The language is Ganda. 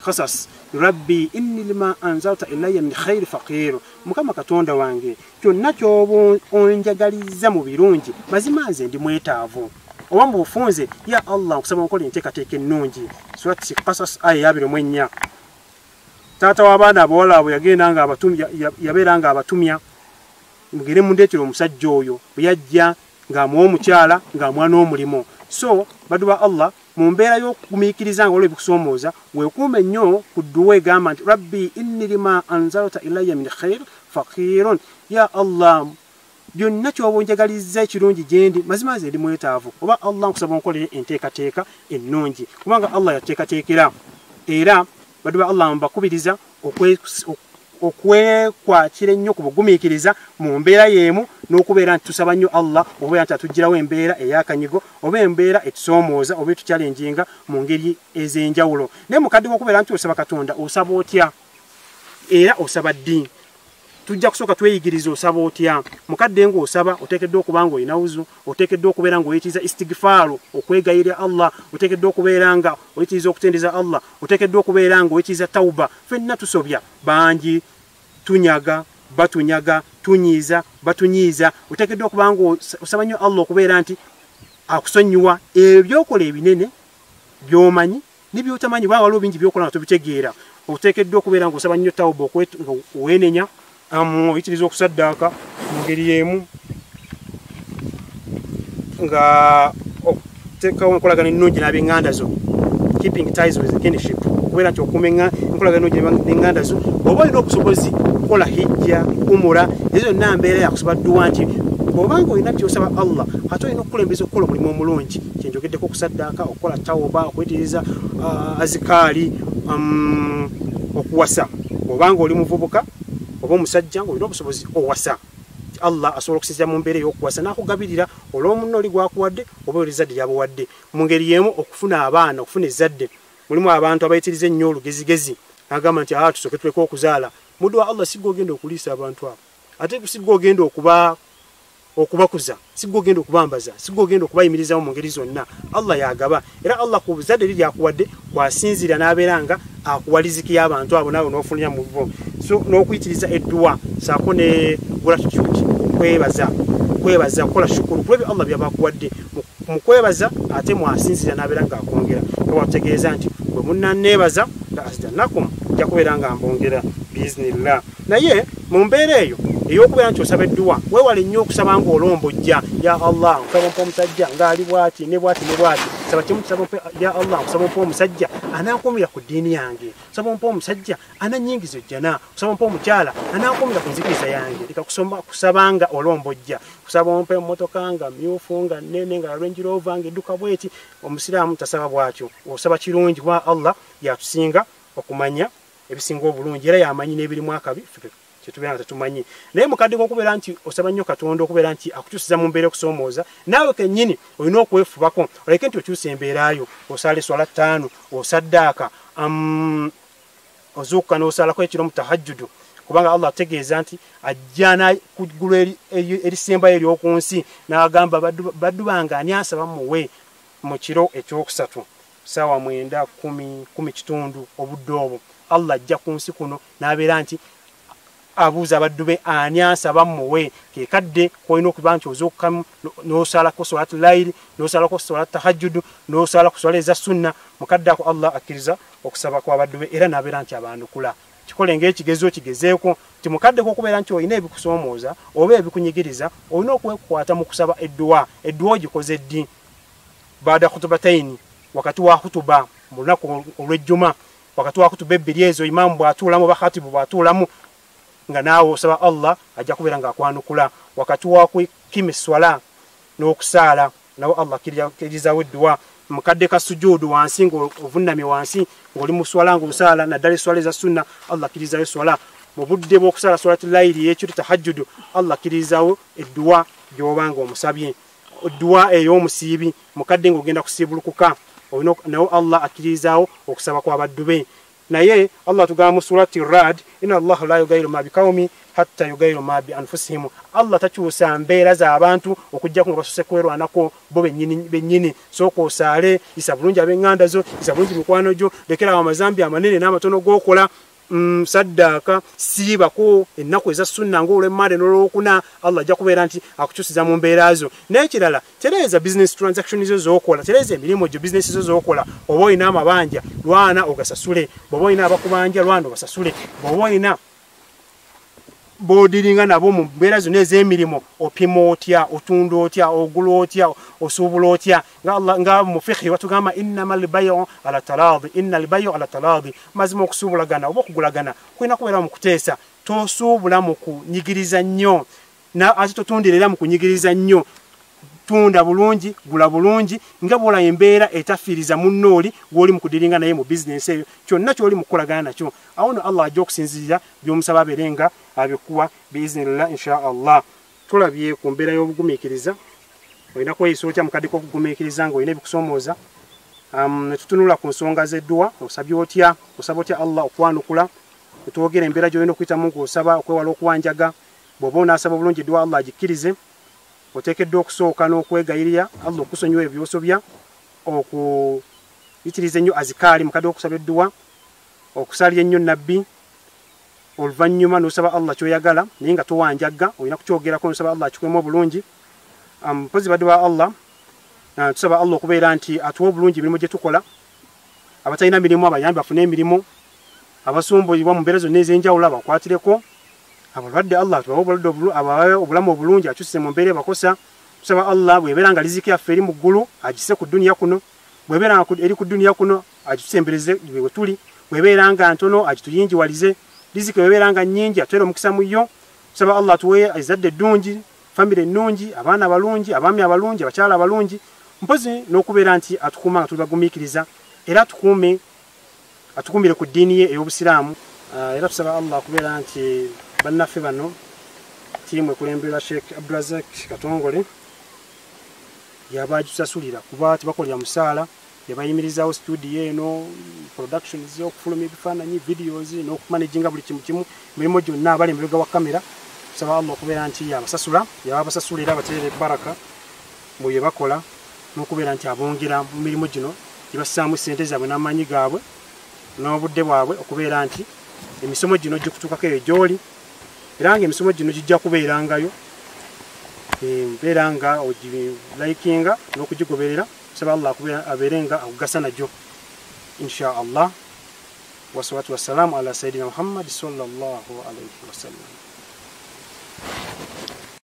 kasas rabbi inni lima anzalta ilaya min khairi faqiru mukama katonda wange kyonna kyoba onjagalizza mu birungi mazima nze ndi mwetaavu oba mu bufunze ya allah nkusaba nkola enteekateeka ennungi surat kasas aya yabiri mu ennya taata w'abaana abawala abo yagenda nga yabeera nga abatumya mugere mundeetera omusajja oyo bwe yajja ng'amuwa omukyala ng'amwana omulimu so badu ba allah mu mbeera y'okugumiikiriza nga waliwo ebikusomooza weekuume nnyo ku dduwa egamba nti rabbi inni lima anzalta ilaya min khair fakiirun ya allah byonna kyoba onjagalizza ekirungi gyendi mazima nze ndi mwetaavu oba allah nkusaba onkolere enteekateeka ennungi kubanga allah yateekateekera era baddu ba allah mbakubiriza okwekwatira ennyo ku bugumiikiriza mu mbeera y'emu n'okubeera nti tusaba nnyo allah okubeera nti atuggyirawo embeera ey'akanyigo oba embeera etusoomooza oba etukyalenjinga mu ngeri ez'enjawulo naye mukadde wokubeera nti osaba katonda osaba otya era osaba ddi tujja kusooka tweyigiriza osaba otya mukadde nga osaba oteekeddwa okuba nga olina wuzu oteekeddwa okubeera nga oyitiriza istigifaaru okwegayirira allah oteekeddwa okubeera nga oyitiriza okutendereza allah oteekeddwa okubeera nga oyitiriza tauba fenna tusobya bangi tunyaga batunyaga tunyiiza batunyiiza oteekeddwa okuba nga osaba nnyo allah okubeera nti akusonyiwa ebyo byokola ebinene byomanyi nebyotamanyi baa waliwo bingi byokola nga tobitegeera oteekeddwa okubeera nga osaba nnyo tawuba nga weenenya oyitiriza okusaddaaka mu ngeri y'emu nga okuteekawo enkolagana ennungi n'abenganda zo keeping ties with kinship okubeera nti okuuma enkolagana ennungi n'enganda zo oba olina obusobozi okukola hijja umura ezo zonna mbeera yakusaba dduwa nti obanga olina kyosaba allah ate olina okukulembeza okukola omulimu omulungi kyenjogeddeko okusaddaaka okukola tawoba okuyitiriza uh, azikaali um, okuwasa obanga oli muvubuka oba omusajja ngaolina obusobozi owasa allah asobola okusinzira mu mbeera ey'okuwasa n'akugabirira olw'omunna oli gwakuwadde oba oli ezzadde lyabuwadde mu ngeri y'emu okufuna abaana okufuna ezzadde mulimu abantu abayitiriza ennyo olugezigezi nagamba nti aa ah, tusooke tuleka okuzaala muddu wa allah sigwe ogenda okuliisa abantu abo ate sigwe ogenda okuba okubakuza sigwe ogenda okubambaza sigwe ogenda okubayimirizawo mu ngeri zonna allah yagaba era allah ku buzadde eri lyakuwadde kwasinziira n'abeera nga akuwa liziki y'abantu abo naawe n'ofunira mu bo so n'okuyitiriza edduwa saako ne gratitude kwebaza kwebaza kukola shukulu kulwebyo allah byabakuwadde mu kwebaza ate mwasinziira n'abeera nga akwongera ewategeeza nti bwe munnaneebaza la asdanakum nja kubeera nga mbongera biiznillah naye mu mbeera eyo eyokubeera nti osaba edduwa wewale nnyo okusaba nga olombojja ya allah nsaba mpa omusajja ngaali bwati ne bwati ne bwati saba kimu nsaba mpa ya allah nsaba mpa omusajja anankumira ku ddiini yange nsaba mpa omusajja ananyingiza ojjana nsaba mpa omukyala anankumira ku nzikiriza yange leka kusoma kusaba nga olombojja kusaba mpa emmotoka nga myufu nga nene nga lwenjirova nga edduka bweti omusiraamu tasaba bwatyo osaba kirungi kuba allah yatusinga okumanya ebisinga obulungi era yamanyi n'ebirimu akabi kyetubeera nga tetumanyi naye mukadde kokubeera nti osaba nnyo katonda okubeera nti akukyusiza mu mbeera okusoomooza naawe kennyini olina okwefubako oleke nti okyusa embeerayo osala eswala ttaano osaddaaka um, ozuukuka n'osalako ekiro mu tahajjudu kubanga allah ategeeza nti ajjana ku ggulu erisembayo ery'oku nsi n'agamba baddu bange ani asaba muwe mu kiro ekyokusatu saawa mwenda kumi kumi kitundu obudde obwo allah ajja ku nsi kuno n'abeera nti abuuza abaddu be ani ansaba muwe kekadde kolina okuba nti ozuukamu nosalako solat laili nosalako solat tahajjudu nosala ku swala eza sunna mukadde ako allah akkiriza okusaba kwabaddu be era nabeera nti abanukula kikole ngaekigezo kigezeeko nti mukaddeko okubeera nti olina ebikusoomooza oba ebikunyigiriza olina okwekwata mu kusaba edduwa edduwa ogikoze ddi baada khutubataini wakati wa khutuba mu lunaku olwejjuma wakati wa khutuba ebbiri ezo imaamu bw'atuulamu bakhatibu bw'atuulamu nga naawe osaba allah ajja kubeera ng'akwanukula wakati wa kukima esswala n'okusaala nawe allah kirizawo edduwa mukadde ka sujuudu wansi ng'ovunnamye wansi ng'oli mu swala ng'osaala naddala esswala eza sunna allah akkirizayo esswala mu budde bw'okusaala swalati layiri ey'ekiro tahajjudu allah akkirizawo edduwa gy'oba ng'omusabye dduwa ey'omusiibi mukadde ng'ogenda kusiibulukuka olina nawo allah akkiririzaawo okusaba kw'abaddu be naye allah atugamba mu surati rad ina allahu la yugairu ma bikaumi hatta yugairu ma bi anfusihimu allah takyusa mbeera z'abantu okugjaku nga basuse kwerwanako bo bennyini sooka osaale isa bulungi ab'eŋŋanda zo isa bulungi mikwano gyo lekerawo amazambi amanene n'amatono g'okola Mm, saddaaka siibako ennaku eza sunna ngaolwemmaade nolwokuna allah ajja kubeera nti akukyusiza mu mbeera zo n'ekirala tereeza business transaction zo zokola tereeza emirimu gyo bisinesi zo zokola oba olina amabanja lwana ogasasule bwoba olina abakubanja lwana obasasule bwoba olina bodiringa nabo mu mbeera zonna ez'emirimu opima otya otunda otya ogula otya osuubula otya nga Allah nga mufihi watugamba innamal bay'u ala taladi innal bay'u ala taladi mazima okusubulagana oba okugulagana kulina kubeera mu kuteesa tosuubula mu kunyigiriza nnyo na ate totundira era mu kunyigiriza nnyo tunda bulungi gula bulungi nga bwola embeera etafiiriza munno oli gwoli mu kudiringa naye mu bizinensi eyo kyonna kyoli mu kukolagana nakyo awo no allah ajja okusinzirira by'omusaba abeere nga abikuwa biiznillah insha allah Tulabye ku mbeera y'obugumiikiriza, olina kweyisa otya mu kadde k'okugumiikiriza ng'olina ebikusoomooza. Um, ne tutunula ku nsonga z'edduwa, osabye otya, osaba otya Allah okwanukula, ne twogera embeera gy'olina okuyitamu ng'osaba okwewala okuwanjaga. Bw'oba onaasaba obulungi edduwa Allah agikkirize, oteekeddwa okusooka n'okwegayirira Allah okusonyiwa ebyo by'osobya, okuyitiriza ennyo azikaali mu kadde k'okusaba edduwa, okusalira ennyo Nabbi, oluvanyuma nosaba Allah kyoyagala naye nga towanjagga olina kukyogerako nosaba Allah akikwemu obulungi um, mpozi badi ba Allah uh, tusaba Allah okubeera nti atuwa obulungi emirimu gyetukola abatalina mirimu abayambi bafune emirimu abasumbuyibwa mu mbeera zonna ez'enjawulo abakwatireko abalwadde Allah tubawe obulwadde abawe obulamu obulungi akyuse mu mbeera ebakosa tusaba Allah bwebeera nga riziki yaffe eri mu ggulu agise ku duniya kuno bwebeera nga eri ku duniya kuno agitusembereze bwe wetuli webeera nga ntono agituyinjiwalize riziki webeera nga nyingi atwere omukisa mu yo tusaba allah tuwe ezadde eddungi famire ennungi abaana abalungi abaami abalungi abakyala abalungi mpozi n'okubeera nti atukuuma nga tuli bagumiikiriza era atukuume atukuumire ku ddiini ye ey'obusiraamu ah, era tusaba allah okubeera nti bannaffe bano tiimu ekulemberwa sheekh abdurazak katongole yaba agisasulira kuba tebakolera musaala ne bayimirizaawo situdiyo eno production z'okufuluma ebifaananyi videos n'okumanaginga buli kimu kimu emirimu gyonna abali emabega wa kamera tusaba allah okubeera nti abasasula yaba abasasula era abaterera ebbaraka mu bye bakola n'okubeera nti abongera mu mirimu gino gibassaamu ssente zaabwe n'amaanyi gaabwe n'obudde bwabwe okubeera nti emisomo gino gikutuukako eyo gy'oli era nga emisomo gino gijja kubeerangayo eh, mbeera nga ogilayikinga n'okugigoberera nsaba allah akube abeere nga akugasa najo insha allah wasalatu wassalamu ala sayidina muhammadi sallallahu alaihi wasallam